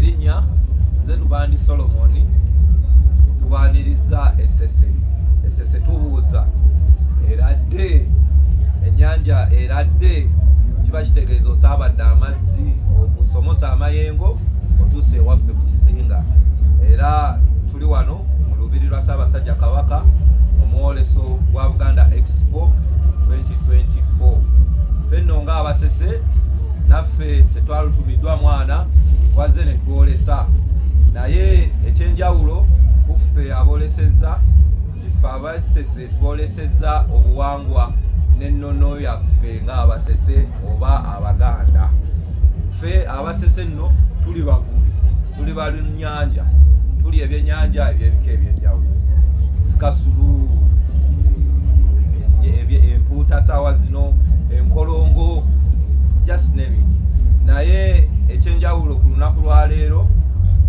erinnya nze lubandi solomoni tubaniriza esese esese tubuuza eradde ennyanja eradde kiba kitegeeza osaabadde amazzi okusomosa amayengo otuuse ewaffe ku kizinga era tuli wano mu lubiri lwa ssaabasajja kabaka omwoleso gwa buganda expo 2024 fenno nga abasese naffe tetwalutumiddwa mwana wazze ne twolesa naye ekyenjawulo kuffe abolesezza nti ffe abasese twolesezza obuwangwa n'ennono yaffe ng'abasese oba abaganda ffe abasese nno tuli bavubi tuli balunnyanja tuli ebyennyanja ebyebika ebyenjawulo sikasulu empuuta saawa zino enkolongo just name it naye ekyenjawulo ku lunaku lwaleero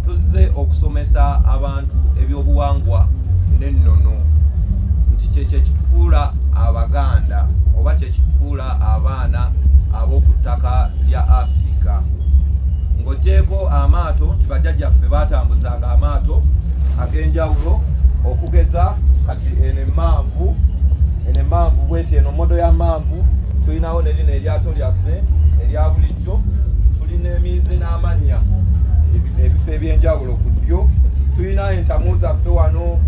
tuzze okusomesa abantu ebyobuwangwa n'ennono nti kyekyo ekitufuula abaganda oba kyekitufuula abaana ab'oku ttaka lya Afirika ng'ogyeko amaato nti bajjajjaffe baatambuzanga amaato ag'enjawulo okugeza kati eno emmanvu eno emmanvu bweti eno modo ya mmanvu tulinawo ne lino eryato lyaffe erya bulijjo tulina emiizi n'amannya ebifo eby'enjawulo ku ddyo tulina entamu zaffe wano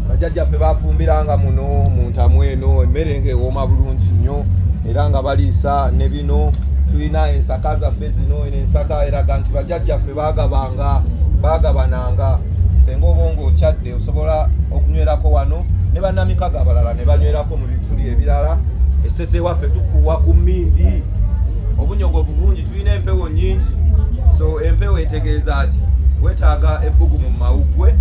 bajjajjaffe bafumbiranga muno mu ntamu eno emmere nga ewooma bulungi nnyo era nga baliisa ne bino tulina ensaka zaffe zino eno ensaka eraga nti bajjajjaffe bagabanga bagabananga senga oba nga okyadde osobola okunywerako wano ne banamikaga abalala ne banywerako mu bituli ebirala esese waffe tufuuwa ku mmindi obunyogovu bungi tulina empewo nyingi so empewo etegeeza ki wetaaga ebbugumu mu mawuggwe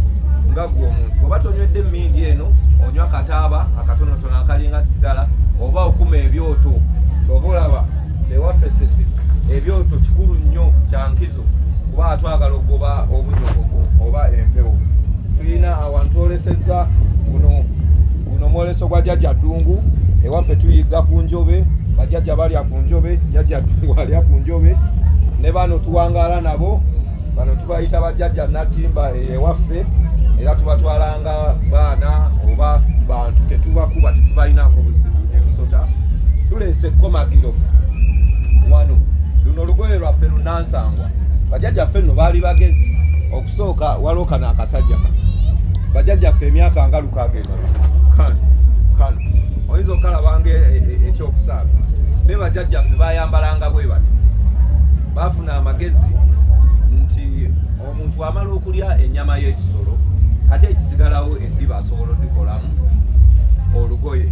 nga gwe omuntu oba tonywedde emmindi eno onywa kataaba akatonotono akalinga sigala oba okuma ebyoto oba olaba ewaffe sisi ebyoto kikulu nnyo kyankizo kuba atwagala okugoba obunyogovu oba empewo tulina awantu olesezza guno mwoleso gwa jajja ddungu ewaffe tuyigga ku njobe bajajja balya ku njobe jajja ddungu alya ku njobe ne bano tuwangaala nabo bano tubayita bajajja natimba ewaffe era tubatwalanga baana oba bantu tetubakuba tetubalinako buzibu emisota tuleese ekkomagiro wano luno olugoye lwaffe lunansangwa bajajja ffe nno baali bagezi kusooka waliwo kano akasajja kano bajajjaffe emyaka nga lukaaga emala kano kano oyinza okalabanga e, e, e, ekyokusaaga naye bajajjaffe bayambalanga bwe bati baafuna amagezi nti omuntu amala okulya ennyama y'ekisolo ate ekisigalawo biba asobola odikolamu olugoye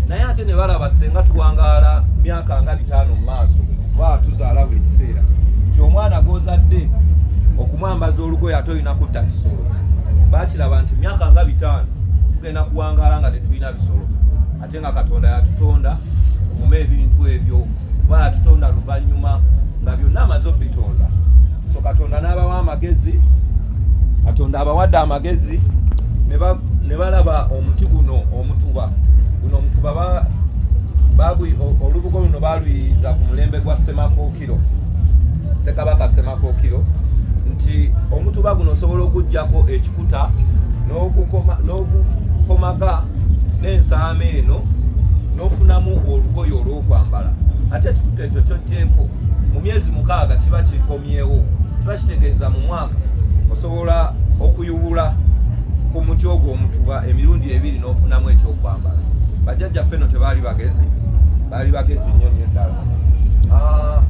naye ate ne balaba senga tuwangaala myaka nga bitaano mu maaso baa tuzaala buli kiseera nti omwana gwozadde okumwambaza olugoye ate olina kutta kisolo bakiraba nti myaka nga bitaano tugenda kuwangaala nga tetulina bisolo ate nga katonda yatutonda kuma ebintu ebyo kuba yatutonda luvannyuma nga byonna amaze obitonda so katonda n'abawa amagezi katonda abawadde amagezi ne balaba omuti guno omutuba guno omutuba olubugo luno baluyiiza ku mulembe gwa semako Kiro Ssekabaka Ssemakookiro nti omutuba guno osobola okuggyako ekikuta n'okukomaga n'ensaama eno n'ofunamu olugoye olw'okwambala ate ekikuta ekyo kyojjeeko mu myezi mukaaga kiba kikomyewo kiba kitegeeza mu mwaka osobola okuyubula ku muti ogwo omutuba emirundi ebiri n'ofunamu ekyokwambala bajjajjaffe no tebaali bagezi ali bagezi nnyo nnyo ddala ah,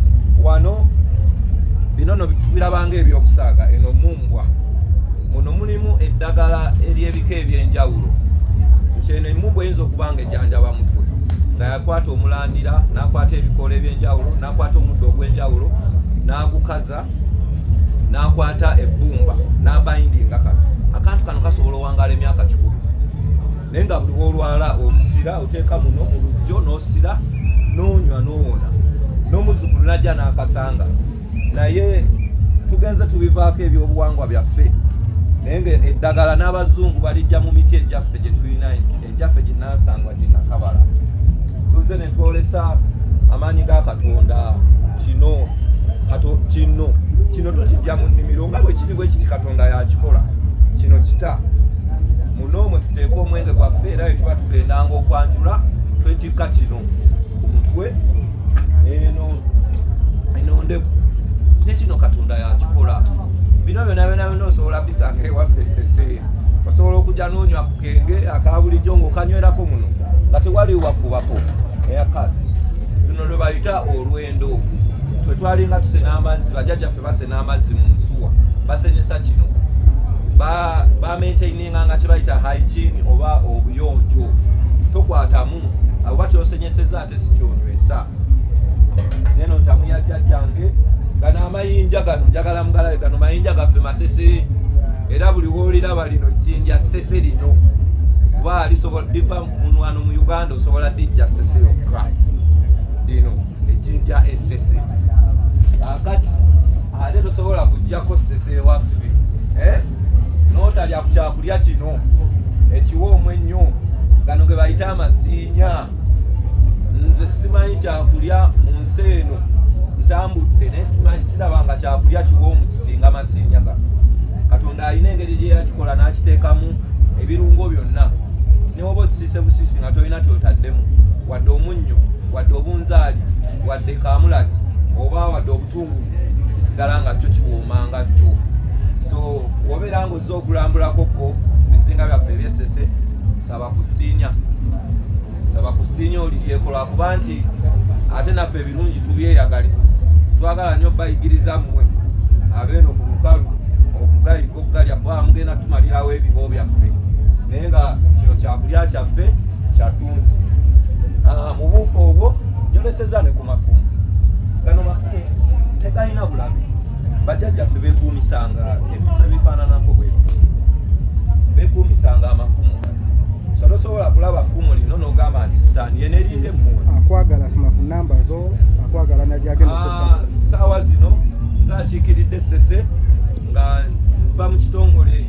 wano bino no tubirabanga ebyokusaaga eno mumbwa muno mulimu eddagala ery'ebika eby'enjawulo nti eno emumbwa eyinza okuba nga ejjanjaba mutwe nga yakwata omulandira n'akwata ebikoola eby'enjawulo n'akwata omuddo ogw'enjawulo n'agukaza n'akwata ebbumba n'abayindinga kano akantu kano kasobola owangala emyaka kikulu naye nga buli wolwala osira oteeka muno mu lujjo n'osira n'onywa n'owona n'omuzzukulu najja n'akasanga naye tugenze tubivaako ebyobuwangwa byaffe naye nga eddagala n'abazungu balijja mu miti egyaffe gye tulina egyaffe ginansangwa ginakabala tuzze ne twolesa amaanyi ga katonda kino kato kino kino tukijja mu nnimiro nga bwe kiri bwe kiti katonda yakikola kino kita n'omwe tuteeka omwenge gwaffe era bwe tuba tugendanga okwanjula twetikka kino ku mutwe eno enondeku ne kino katonda yakikola bino byona byona byona osobola bisanga ewaffe sese osobola okujja n'onywa ku kenge akabulijjo ng'okanywerako muno nga tewali wakubako eyakati luno lwe bayita olwendo twe twalinga tusena amazzi bajajjaffe base n'amazzi mu nsuwa basenyesa kino bamaintaininga nga kyebayita hygiene oba obuyonjo tokwatamu oba kyosenyeseza ate sikyonywesa neno ntamu yajjajjange gano amayinja gano njagala mugalabe gano mayinja gaffe masese era buli woliraba lino jjinja sese lino kuba lisobola liva munwano mu uganda osobola dijja sese yokka lino ejjinja essese akati ate tosobola kujjako ssese waffe eh? notalya ku kyakulya kino ekiwa omwennyo gano ge bayita amasiinya nze simanyi kyakulya mu nsi eno ntambudde naye simanyi sirabanga kyakulya kiwa omusisinga amasiinya gano katonda alina engeri gye yakikola n'akiteekamu ebirungo byonna newoba okisiise busiisi nga tolina kyotaddemu wadde omunnyo wadde obunzaali wadde kaamulali oba wadde obutungu kisigala nga kyo kiwooma nga kyo so wobeera nga ozze okulambulakoko bizinga byaffe ebyesese saba kusiinya saba kusiinya oliryeko lwakuba nti ate naffe ebirungi tubyeyagaliza twagala nnyo bayigiriza mmwe abeeno ku lukalu okugayiga okugalya kuba mugenda tumalirawo ebibo byaffe naye nga kino kyakulya kyaffe ah, mu buufu obwo yoleseza ne ku mafumu gano mafumu tegalina bulabe bajjajjaffe bekuumisanga ebintu ebifaananako bwe bekuumisanga amafumu so tosobola kulaba fumu lino nogamba nti sitaani yena erinde mmuwe akwagala sima ku namba zo akwagala najagenda ah, saawa zino nzakiikiridde sese nga nva mu kitongole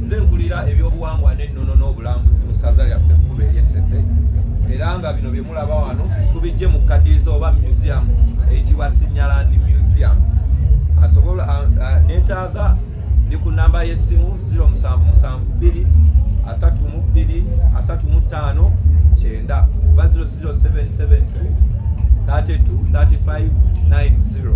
nze nkulira ebyobuwangwa ennono n'obulambuzi mu ssaza lyaffe ekkuba eryessese era nga bino bye mulaba wano tubijje mu kadiiza oba museum eyitibwa sinyaland museum asobola netaaga ndi ku namba y'essimu 0772 asatu mu bbiri asatu mu ttaano kyenda oba 00772 32 35 90